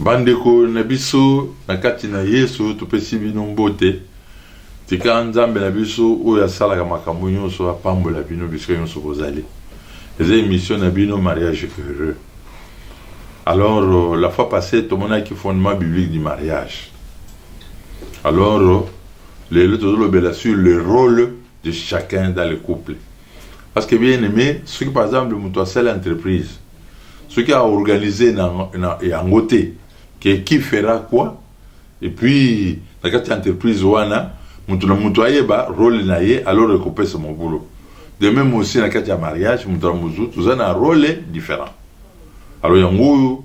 bandeko na biso na kati na yesu topesi bino mbote tika nzambe na biso oyo asalaka makambo nyonso apambola bino bisika nyonso bozali eza émission na bino mariage heureux alors euh, la fois passée tomonaki fondement biblique du mariage alors euh, lelo tozolobela sur le rôle de chacun dans le couple parce que bien aimé soki par exemple moto asali entreprise soki aorganize na, na yango te ke qui fera quoi et puis na kati ya entreprise wana moto na moto ayeba role na ye alors ekopesa mobulu de même aussi na kati ya mariage moto na moto toza na role différent alors yango oyo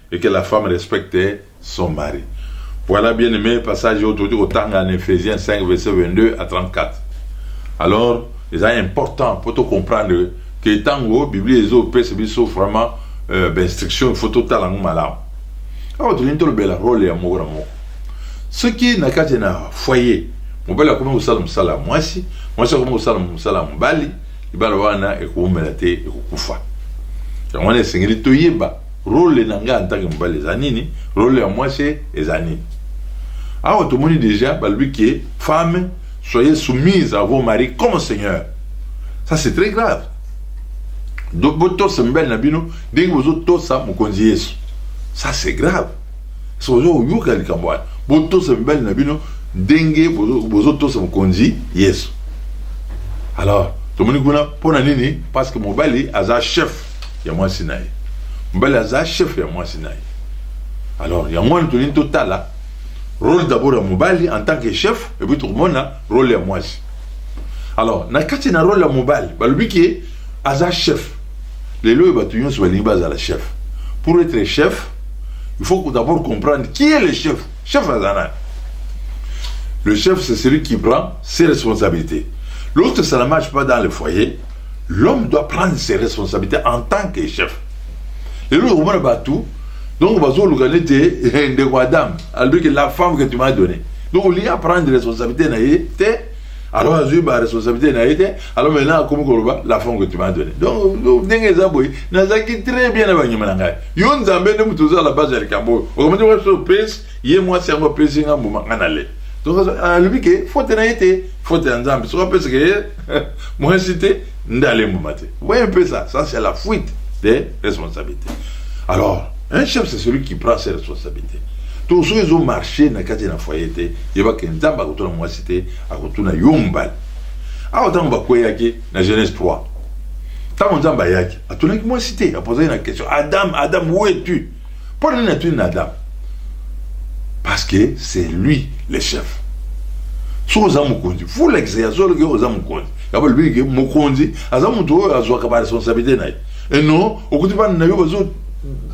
et que la femme respecte son mari. Voilà bien aimé passage oyo tokoki kotanga na Ephésiens 5 verset 22 à 34. Alors eza important mpo tocomprendre ke ntango biblia ezopesa biso vraiment euh, bainstruction il faut totala yango malamu awa tolingi tolobela role ya moko na moko soki na kati na foyer mobali akomi kosala mosala ya mwasi mwasi akomi kosala mosala ya mobali libala wana ekoumela te ekokufa yango wana esengeli toyeba Role na ngai en tant que mobali eza nini? Role ya mwasi eza nini? Awa tomoni deja balobi que femme soyez soumise à vos maris comme Seigneur. Ça c'est très grave. Donc botosa mibali na bino ndenge bozotosa mokonzi Yesu. Ça c'est grave. Sozo oyoka likambo wana. Botosa mibali na bino ndenge bozotosa mokonzi Yesu. Alors tomoni kuna mpo na nini? Parce que mobali aza chef ya mwasi na ye mobali aza chef ya mwasi na ye alors yango wana tolingi totala role d'abord ya mobali en tant que chef epuis tokomona role ya mwasi alors na kati na role ya mobali balobi ke aza chef lelo oyo bato nyonso balingi bazala chef pour être chef il faut d'abord comprendre qui est le chef chef aza nani le chef c'est celui qui prend ses responsabilités lorsque ça ne marche pas dans le foyer L'homme doit prendre ses responsabilités en tant que chef. Lelo okomona bato donc bazoluka nete eh, ndeko Adam alobi que la femme que tu m'as donné donc olingi aprendre responsabilité na ye te alors azwi ba responsabilité na ye te alors maintenant akomi koloba la femme que tu m'as donné donc ndenge eza boye nazalaki très bien na banyama na ngai yo nzambe nde moto oza la base ya likambo oyo okomati waso prince ye mwasi yango apesi nga mbuma nga na le donc alobi ke faute na ye te faute ya nzambe soki apesi ke ye mwasi te nde ale mbuma te voye un peu ça ça c'est la fuite de responsabilité alors un chef c'est celui qui prend ses responsabilités to soki ezo marche na kati na foyer te yeba ke nzambe akotuna mwasi te akotuna yo mobali awa ntango bakweyaki na genèse 3 ntango nzambe ayaki atunaki mwasi te apozaki na question adam adam où es tu Mpo na nini atuni na Adam? Parce que c'est lui le chef. soki oza mokonzi fulakisa ya solo ke oza mokonzi yabo olobi ke mokonzi aza moto oyo azwaka baresponsabilité na ye eno okuti bana na yo bazo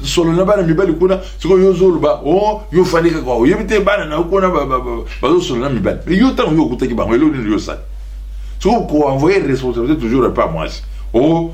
solo na bana mibali kuna sikoyo yo ozoloba o oh, yo ofandi kaka oyebi te bana na yo kuna bazosolo na mibali me yo ntango yo okutaki bango eloko nini yo osali soki koenvoye responsabilité toujours epa mwasi o oh,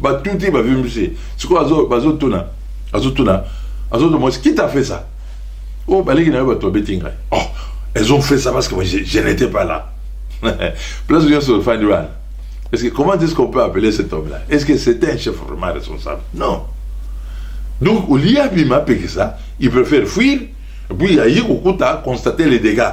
batuti bavimbisi sikoyo bazotuna azotuna azotuna mwasi qui t'a fait ça oyo oh, baleki na yo bato babeti ngai oh elles ont fait ça parce que moi je, je n'étais pas là place nyonso ofandi wana est-ce que comment est-ce qu'on peut appeler cet homme là est-ce que c'était un chef vraiment responsable non donc au lieu abima apekisa il préfère fuir puis aye kokuta constater les dégâts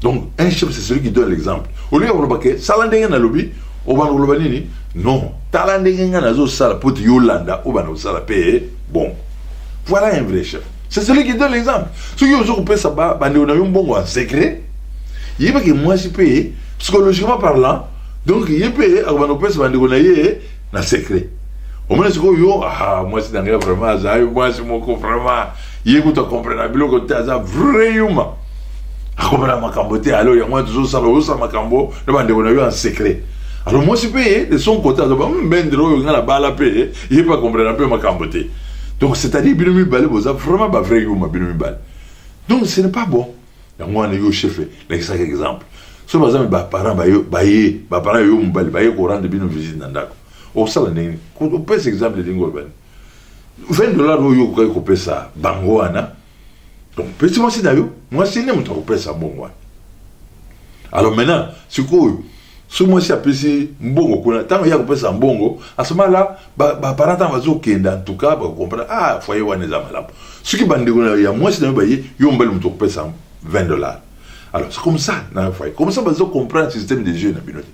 Donc, un chef, c'est celui qui donne l'exemple. Au lieu de dire, sala ndenge na lobi, obana koloba nini? Non, tala ndenge nga nazo sala pote yolanda, obana kosala pe bon. Voilà un vrai chef. C'est celui qui donne l'exemple. Ceux qui ont pesa ba bande na yo mbongo en secret, yeba que moi je paye psychologiquement parlant. Donc yebe akobana pesa bande na ye na secret omona sikoyo yo aha mwasi na ngai vraiment azali mwasi moko vraiment ye kutu akomprena biloko te aza vrai yuma akomprena makambo te alo yango wana tozosala ozosala makambo na bandeko na yo en secret alors mwasi mpe ye de son côté azoba hmm, bendre oyo ngai nabala mpe ye mpe akomprena mpe makambo te donc c'est à dire bino mibale boza vraiment ba vrai yuma bino mibale donc ce n'est pas bon yango wana yo chef lakisaka exemple so baza me baparent baye baparent yo mobali baye korendre bino visite na ndako osala ndenge opesa exemple ndenge oyo bani 20 dollars oyo okokaki kopesa bango wana donc pesi mwasi na yo mwasi nde moto akopesa mbongo wana alors maintenant sikoyo soki mwasi apesi mbongo kuna ntango ye akopesa mbongo asomala baparent ntango bazokenda ntuka bakokomprana ah foye wana eza malamu soki bandeko na ya mwasi na yo baye yo mobali moto okopesa 20 dollar alors c'est comme ça na foye comme ça bazokomprana système de jeu na bino te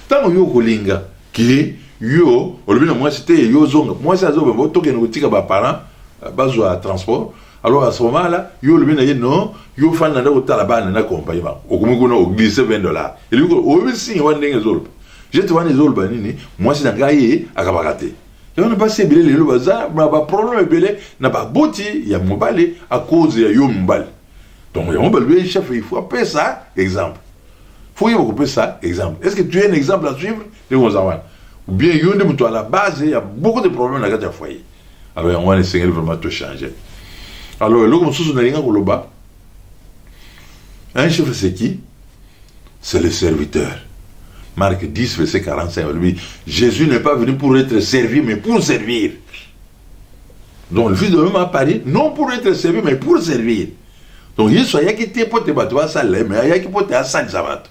ntango yo okolinga ke yo olobi na mwasi te yo ozonga mwasi azobembo tokende kotika baparent euh, bazwa transport Alors à ce moment là, yo le bien non, yo fan na ndako tala bana na compagnie ba. Okomi kuna o glisse 20 dollars. Et lui o bi signe wa ndenge zolba. Je te wani zolba nini? Moi c'est na ngai akabaka te. Yo na basi ebele lelo baza ba ba problème ebele na ba boti ya mobali à cause ya yo mobali. Donc ya mobali le chef il faut appeler ça exemple. Faut yeba kopesa exemple. Est-ce que tu as un exemple à suivre? Ndenge oza wana. Ou bien yo nde moto à la base ya beaucoup de problèmes na kati ya foyer. alors yango wana esengeli vraiment to changer alors eloko mosusu nalinga koloba un chef c'est qui c'est le serviteur Marc 10 verset 45 alobi Jésus n'est pas venu pour être servi mais pour servir donc le fils de l'homme a paru non pour être servi mais pour servir donc yesu ayaki te mpo te bato basala ye mais ayaki mpo te asalisa bato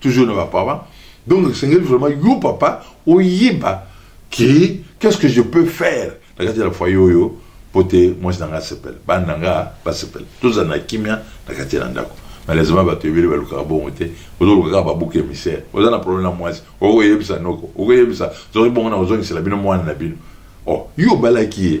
toujours na ba parents donc esengeli vraiment yo papa oyeba ke qu'est-ce que je peux faire na kati ya la foyer oyo mpo te mwasi na ngai asepela bana na ngai basepela tozala na kimia na kati ya na ndako malheureusement bato ebele balukaka bongo te ozoluka kaka babuka emissaire oza na problème na mwasi okoyebisa noko okoyebisa zoki bongo na kozongisela bino mwana na bino oh yo obalaki ye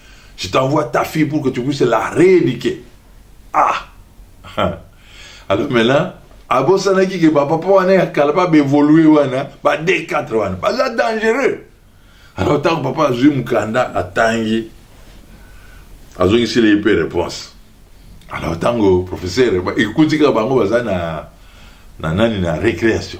Je t'envoie ta fille pour que tu puisses la rééduquer. Ah Alors maintenant, abosanaki ke bapapa wana ya kala babevolue wana ba d4 wana baza dangereux alors ntango papa azwi mokanda atangi azongiseli ye mpe réponse alors ntango professeur ekutika bango baza na na nani na récréation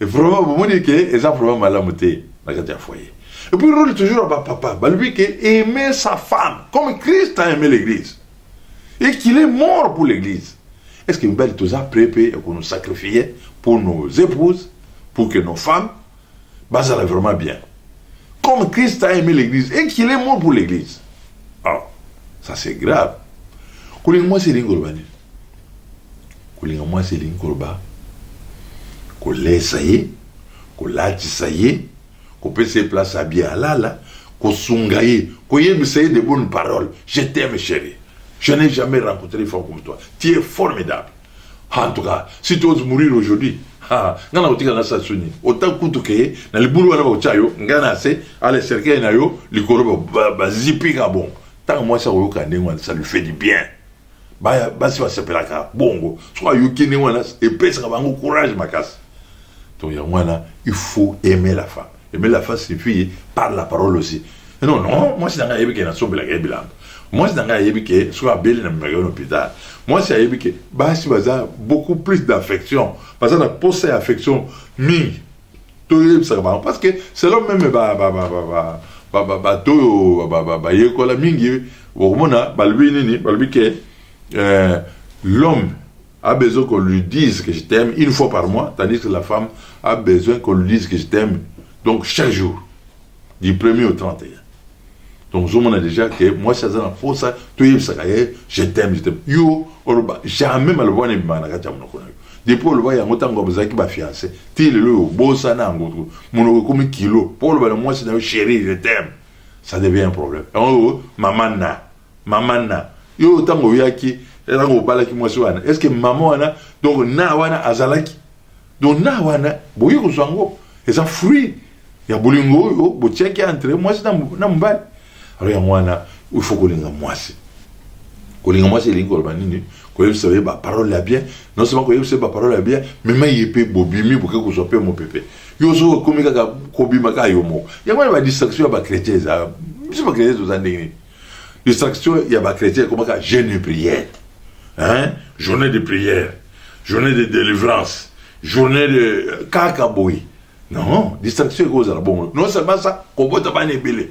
vraiment bomoni ke eza vraiment malamu te na kati ya foyer et puis role toujours ya bapapa balobi ke aimer sa femme comme christ a aimé l'église et qu'il est mort pour l'église est ce que mibali toza près mpe ya kono sacrifie pour nos épouses pour que nos femmes bazala vraiment bien comme christ a aimé l'église et qu'il est mort pour l'église ah ça c'est grave kolinga mwasi elingi koloba nini Kolinga mwasi elingi koloba kolesa ye, kolatisa ye, kopesa ye place ya bien alala, kosunga ye, koyebisa ye de bonnes paroles. Je t'aime cherie. Je n'ai jamais rencontré une femme comme toi. Tu es formidable. Ah, en tout cas, si tu oses mourir aujourd'hui, ah, nga na kotika na sasu nini? Autant kutu ke na libulu wana bakotia yo, nga na se, ale cercueil na yo likolo ba, ba, ba zipi nga bongo. Tango mwasi akoyoka ndenge wana, ça lui fait du bien. baya basi basepelaka bongo soki ayoki ndenge wana epesaka bango courage makasi donc yango wana il faut aimer la femme aimer la femme signifie par la parole aussi eh non non mwasi na ngai ayebi ke nasombelaka ye bilamba mwasi na ngai ayebi ke soki abeli na memaka yo na hôpital mwasi ayebi ke basi baza beaucoup plus d'affection baza na posa ya affection mingi toyebisaka bango parce que selon meme bato oyo bayekola mingi okomona balobi nini balobi ke euh, l'homme a besoin qu'on lui dise que je t'aime une fois par mois tandis que la femme a besoin qu'on lui dise que je t'aime donc chaque jour du premier au 31 donc ozomona déjà ke mwasi aza na mposa toyebisaka ye je t'aime je t'aime yo oloba jamais maloba wana ebimaka na kati ya monoko na yo depuis oloba yango ntango bazalaki bafiance ti lelo oyo obosana yango monoko ekomi kilo mpo oloba na mwasi na yo chéri je t'aime ça devient un problème yango mama na Mama na yo ntango oyaki ntango obalaki mwasi wana est ce que mama wana donc na wana azalaki donc na wana boye kozwa yango eza fruit ya bolingo oyo botiaki entre mwasi na mobali alors yango wana il faut kolinga mwasi kolinga mwasi elingi koloba nini koyebisa ye baparole ya bien non seulement koyebisa ye baparole ya bien mema ye mpe bobimi boke kozwa mpe mopepe yo ozo okomi kaka kobima kaka yo moko yango wana badistraction ya bachrétien eza biso bachrétien toza ndenge nini Distraction ya ba chrétiens ekomaka jeûne et prière. Hein? Journée de prière, journée de délivrance, journée de kaka boye. Non, distraction ekozala bongo. Non seulement ça, kobota bana ebele.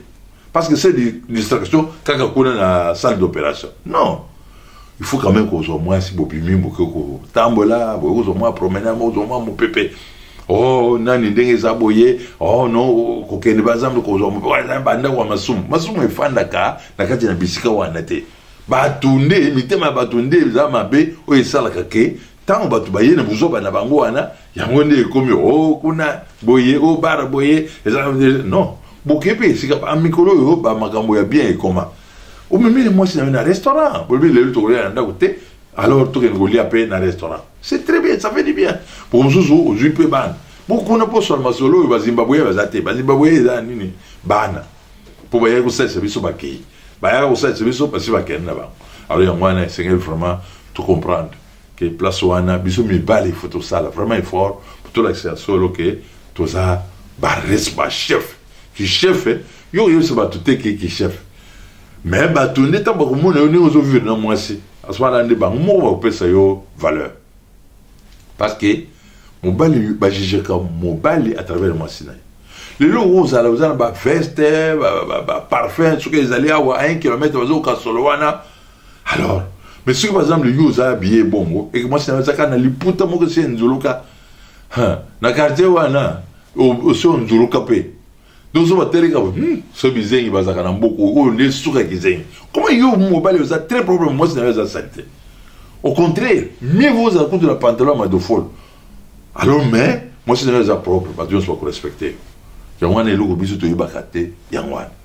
Parce que c'est distraction kaka kuna na salle d'opération. Non. il faut quand même kozwa mwasi bobimi boke kotambola boye kozwa mwa promenade kozwa mwa mopepe oh nani ndenge eza boye oh non kokende bazambe kozwa mopepe bandako ya masumu masumu efandaka na kati na bisika wana te bato nde mitema ya bato nde eza mabe oyo esalaka ke ntango bato baye na buzoba na bango wana yango nde ekomi o oh, kuna boye o oh, bara boye eza non bokei mpe esika mikolo oyo bamakambo ya bien ekoma omemeli mwasi na yo na restaurant bolobi lelo tokolia na ndako te alors tokende kolia mpe na restaurant c'est très bien ça fait du bien mpo mosusu ozwi mpe bana bokuna mposola masolo oyo bazimbabwe baza te bazimbabwe eza nini bana mpo bayaki kosalisa biso bakei bayaka kosalisa biso basi bakende na bango alors yango wana esengeli vraiment to comprendre ke place wana biso mibali il faut tosala vraiment effort pour tolakisa ya solo ke toza ba res ba chef ki chef yo oyebisa bato te ke ki chef mais bato nde ntango bakomona yo ndenge ozovivre na mwasi aswana nde bango moko bakopesa yo valeur parce que mobali bajijeka mobali à travers mwasi na ye lelo oyo ozala oza na baveste baparfum soki ezali awa 1 kilomètre bazokoka solo wana alors mais soki par exemple yo oza biye bongo eke mwasi nayo azaka na liputa moko esi enzuluka na quartier wana osi onzuluka mpe donc so bateleka hmm, so bizengi bazalaka na mboka oyo nde suka kizengi koma yo mobali oza très problème mwasi nayo eza salite au contraire mieux vaut ozala kutu na pantalon ya madofolo alors mais mwasi nayo eza propre bato nyonso bakorespecte yango wana eloko biso toyebaka te yango wana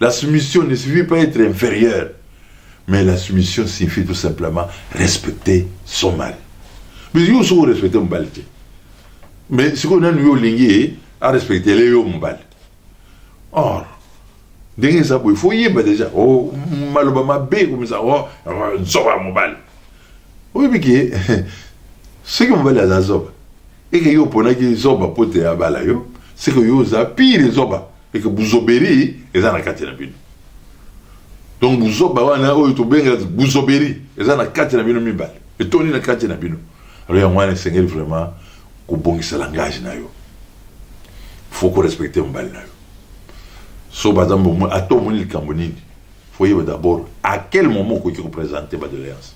La soumission ne signifie pas être inférieur, mais la soumission signifie tout simplement respecter son mari. Mais yo soko respecte mobali te. Mais sikoyo nani yo olingi ye arespectele yo mobali. Or, ndenge eza boye fo yeba deja oh, maloba mabe komisa oh, nzoba ya mobali. Oyebi ke soki mobali aza zoba eke yo oponaki zoba mpo te abala yo seke yo oza pire zoba et que buzoberi eza na kati na bino donc buzoba wana oyo tobengela buzoberi eza na kati na bino mibale etondi na kati na bino alors yango wana esengeli vraiment kobongisa langage na yo faut korespecte mobali na yo so baza ato omoni likambo nini Faut yeba d'abord à quel moment okoki ko presenter ba doléances.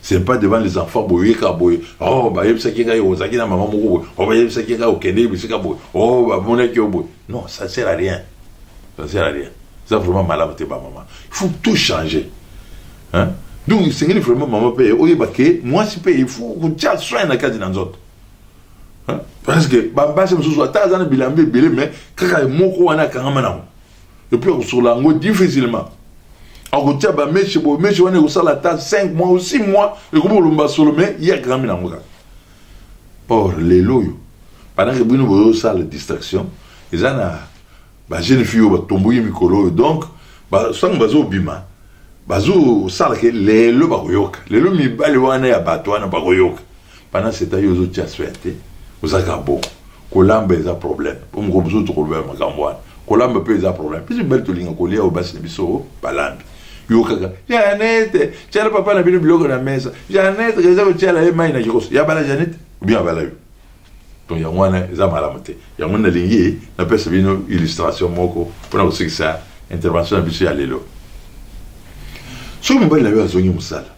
Ce n'est pas devant les enfants boye ka boye. Oh ba yebisaki ngai ozaki na maman moko boye. Oh ba yebisaki ngai okende bisika boye. Oh ba monaki yo boye. Non, ça sert à rien. Ça sert à rien. Ça vraiment malade te ba maman. Il faut tout changer. Hein? Donc esengeli vraiment maman pe oyeba ke mwasi pe il faut kotya soin na kati na nzoto. Hein? Parce que ba basi mosusu ata aza na bilamba ebele mais kaka moko wana akangama nango. epuis akosokola yango difficilement akotia bameshe boye meshe wana ekosala ata 5 mois ou 6 mois ekomi kolomba solo me ye akangami na yango kaka or lelo oyo pendant bino boyosala distraction eza na bajeune fille oyo batomboki mikolo oyo donc sango bazobima bazosala ke lelo bakoyoka lelo mibali wana ya bato wana bakoyoka Pendant ce temps yo ozo tia soin te oza kaka bongo kolamba eza problème po mokolo mosusu tokolobela makambo wana kolamba mpe eza problème biso mibali tolinga kolia oyo basi na biso balambi yo kaka janete tiala papa na bino biloko na mesa janete eza kotiala ye mai na kikoso ya bala janete obien abala yo donc yango wana eza malamu te yango nalingi napesa bino illustration moko mpona kosikisa intervention na biso ya lelo soki mobali na yo azongi mosala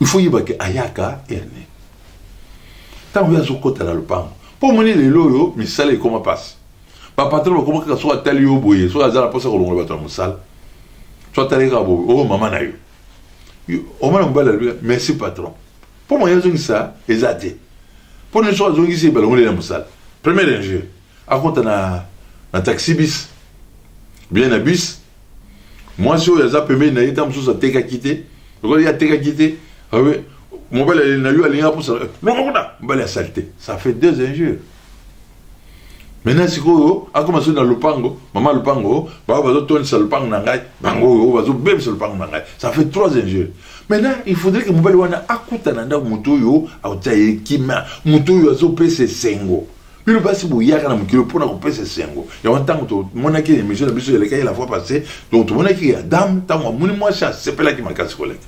il faut yeba ke ayaka erne ntango ye azokɔta na lopango mpo omoni lelo oyo misala ekoma mpasi bapatron bakoma kaka soki atali yo boye soki aza na mposa kolongola bato ya mosala so atali kaka boye oyo oh, mama na yo omona mobali alobi merci patron mpo moye azongisa eza te mpo nini soki azongisi balongoli na mosala première injure akota na, na taxi bis bien na bus mwasi oyo aza pembeni na ye ntango mosusu atekaki te lokola ye atekaki te mobali aleli na yo alingi apusa lokokuta eh, mobali asali te ça fait deux injures maintenant sikoyo akoma soki na lopango mama lopango bao bazotondisa lopango na ngai bango oyo bazobebisa lopango na ngai ça fait trois injures maintenant il faudrait que mobali wana akutana ndako moto oyo akotia ye kimia moto oyo azopesa esengo bino basi boyaka na mokili mpo na kopesa esengo yango ntango tomonaki emission na biso elekaki la fois passé donc tomonaki ya dame ntango amoni mwasi asepelaki makasi koleka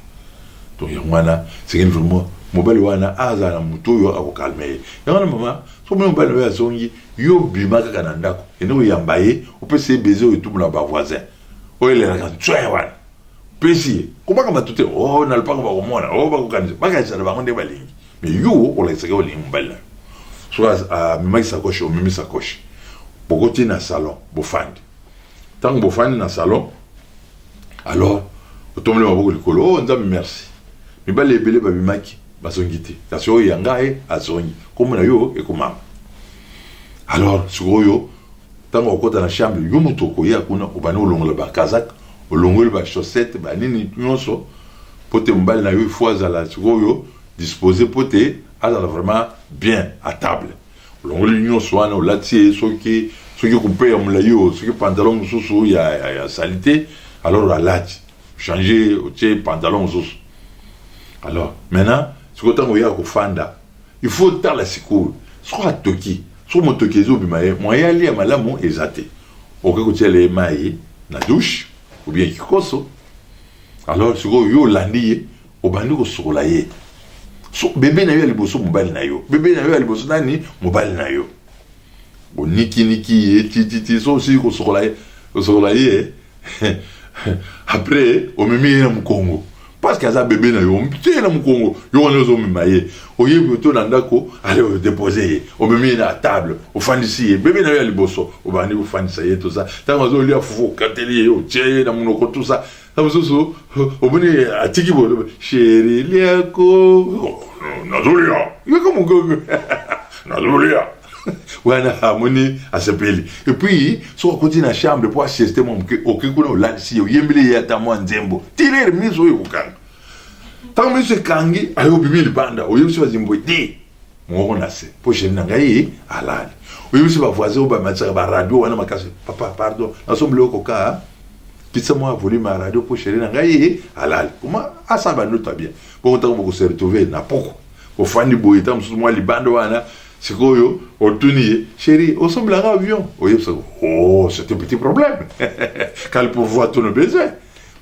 donc yango wana sekeni vraiment mobali wana azala na moto oyo akokalme ye yango wana mama soki mobali oyo azongi yo bima kaka na ndako ende koyamba ye opesa ye beze oyo etubu na bavoisin oyo elelaka nswe wana pesi ye kobaka bato te o oh, na lopango bakomona o oh, bakokanisa bakanisa na bango nde balingi Mais yo olakisaka olingi mobali na yo soki amemaki sakoshi omemi sakoshi bokoti na salon bofandi ntango bofandi na salon alors otomboli maboko likolo o oh, nzambe merci mibali ebele babimaki bazongi te kasi oyo ya ngai azongi nkombo na yo ekomama alors sikoyo ntango okota na chambre yo moto okoya kuna obandi kolongola bakazak olongoli bachaussette banini nyonso mpo te mobali na yo ifo azala sikoyo dispose po te azala vraiment bien a table olongoli nionso wana olati ye soki soki kupe ya molai oyo soki pantalon mosusu ya, ya, ya salite alors alati change otie pantalon mosusu alors maintenant sikoyo ntango oyaka kofanda il faut otala sikoyo soko atoki soko motoki ezobima ye mwaye alia malamu eza te okoki kotiela ye mai na douche ou bien kikoso alors sikoyo yo olandi ye Obandi kosukola ye so bebe na yo ya liboso mobali na yo bebe na yo ya liboso nani mobali na yo onikiniki ye tititi so osili kosukola ye osokola ye après omemi ye na mokongo parce que aza bebe na yo omtie na mokongo yo wana ozomema ye oyebi oto na ndako ale odepose ye omemi ye na table ofandisi ye bebe na yo ya liboso obandi kofandisa ye tosa ntango azolia fufu okateli ye otie ye na monoko tosa na mosusu omoni atiki boloba sheri liako nazolia yaka mogogo nazolia wana amoni asepeli epuis soki akoti na chambre mpo asieste mwa moke oke kuna olalisi ye oyembeli ye ata mwa nzembo tirer miso oyo ekokanga ntango miso ekangi ayo obimi libanda oyebisi bazimbo te Mongongo na se mpo sheri na ngai alali. Oyebisi ba voisin oyo bamatisaka ba radio wana makasi. Papa pardon, nasombeli yo kokaa kitisa mwa volume ya radio mpo sheri na ngai alali. Koma asala bandoto ya bien. Bongo ntango bokoseretrouve na poko ofandi boye ntango mosusu mwa libanda wana sikoyo otuni ye sheri osombela nga avion oyebisa oh c'est un petit problème kali pourvoir tout nos besoins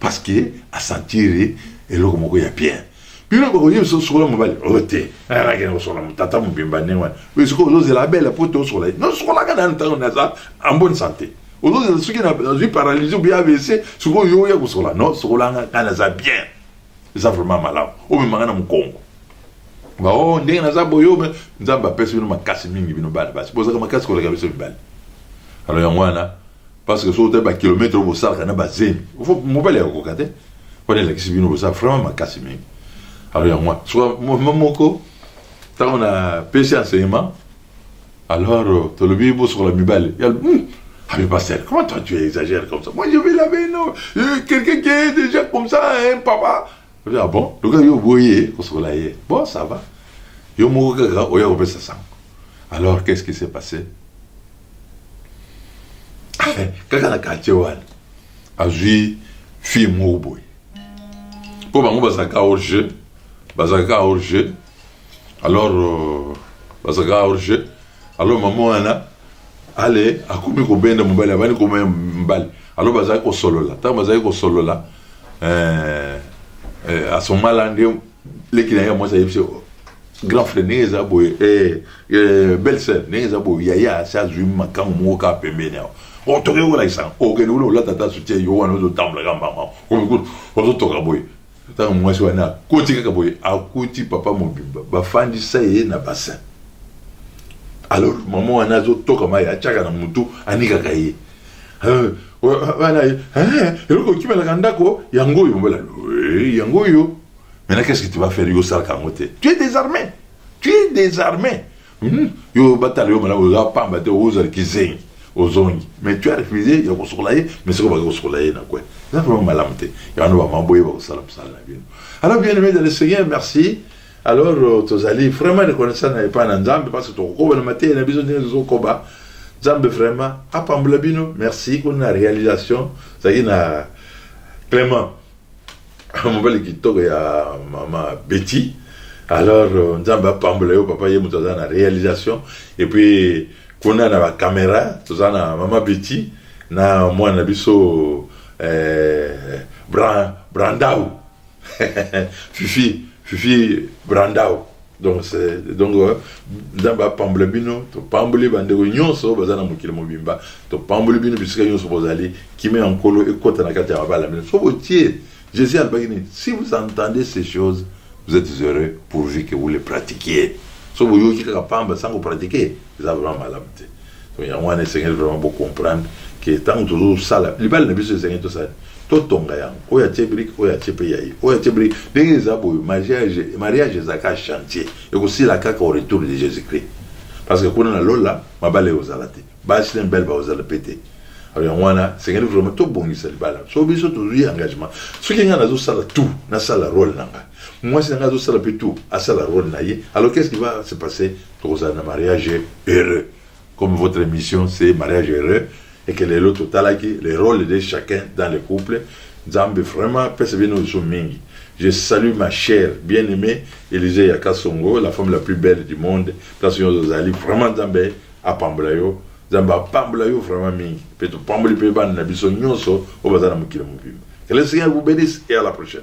parce que asentire eloko moko ya bien bino bokoyeba biso sokola mobali oyo oh, te ayakaki na kosokola motata mobimba ndenge wana oyo sikoyo ozozela abele po te osokola ye no sokolaka na ntango naza en bonne santé ozozela soki nazwi paralysie obi avc sikoyo yo oya kosokola no sokolanga ngai naza bien eza vraiment malamu omemanga na mokongo bao oh, ndenge naza boyo nzambe apesi bino makasi mingi bino bana basi bozaka makasi koleka biso mibali alors yango wana parce que soki otali bakilometre oyo bosalaka na bazemi mobali ya kokoka te wana elakisi bino boza vraiment makasi mingi alors yango wana soka mama moko ntango na pesi enseignement alors euh, tolobi bosokola mibale ya hmm, Ah mais pasteur, comment toi tu exagères comme ça Moi je vais laver, non euh, Quelqu'un qui est déjà comme ça, hein, papa Olobi ah bon lokola yo oboye kosokola ye bon ça va yo moko kaka oya kopesa sango alors qu'est-ce qui s'est passé kaka na quartier wana azwi fille moko boye mpo bango bazalaka hors jeu bazalaka hors jeu alors euh, bazalaka hors jeu alors maman wana ale akomi kobenda mobali abandi komaya mobali alors bazali kosolola ntango bazali kosolola eh, eh, asomala nde leki na ye ya mwasi ayebisi grand frère ndenge eza boye eh, eh, belle sœur ndenge eza boye yaya asi azwi makango moko kaka pembeni awa oh, toke kolakisa okende kuna olata ata soutien yo wana ozotambola kaka mbanga ozotoka boye Tango mwasi wana akoti kaka boye, akuti papa mobimba bafandisa ye na bassin. Alors maman wana azotoka mayi, atiaka na mutu, anikaka ye. Euh, wana ye, eh, eloko okimelaka ndako yango oyo mbala, oui, yango oyo. Maintenant qu'est-ce que tu vas faire? Yo osalaka yango te. Tu es désarmé. Tu es désarmé. Hmm? yo batala yo malamu oza pamba te ozali kizengi ozongi mais tu as refusé ya kosokola ye mais soki obaki kosokola ye na kwe eza vraiment malamu te yango bama boye bakosala mosala na bino alors bien aimé dans le seigneur merci alors euh, tozali vraiment reconnaissant na epai na nzambe parce que tokokoba na mateya na biso ndenge tozokoba nzambe vraiment apambola bino merci kuna na réalisation zalaki na clément mobali kitoko ya mama Betty alors euh, nzambe apambola yo papa ye moto aza na réalisation et puis kuna na ba caméra toza na mama Betty na mwana na biso eh, Bran, Brandau fifi fifi Brandau donc c'est donc euh, nzambe apambola bino topamboli bandeko nyonso oyo baza na mokili mobimba topamboli bino bisika nyonso bozali kime ya nkolo ekota na kati ya mabala bino so botie jésus alobaki nini si vous entendez ces choses vous êtes heureux pourvu que vous les pratiquiez so boyoki kaka pamba sans kopratike Eza vraiment malamu te. Donc yango wana esengeli vraiment bo comprendre que tango tozo sala libala na biso esengeli tosala nini? Totonga yango. Oyo atie brique, oyo atie pe ya ye. Oyo atie brique. Ndenge eza boye mariage, mariage eza kaka chantier. Eko sila kaka au retour de Jesus Christ. Parce que kuna na lola mabala eko zala te. Basi na mibali bako zala pe te. Alors yango wana esengeli vraiment to bongisa libala. Soki biso tozui engagement, soki ngai nazo sala tout, na sala role na ngai. Mwasi na ngai azo sala pe tout, asala role na ye. Alors qu'est-ce qui va se passer? tokozala na mariage heureux comme votre émission c'est mariage heureux et que lelo totalaki le rôle de chacun dans le couple nzambe vraiment apesa bino lisu mingi je salue ma chère bien aimée Elise ya Kasongo la femme la plus belle du monde place nyonso ozali vraiment nzambe apambola yo nzambe apambola yo vraiment mingi mpe topamboli mpe bana na biso nyonso oyo baza na mokili mobimba que le seigneur vous bénisse et à la prochaine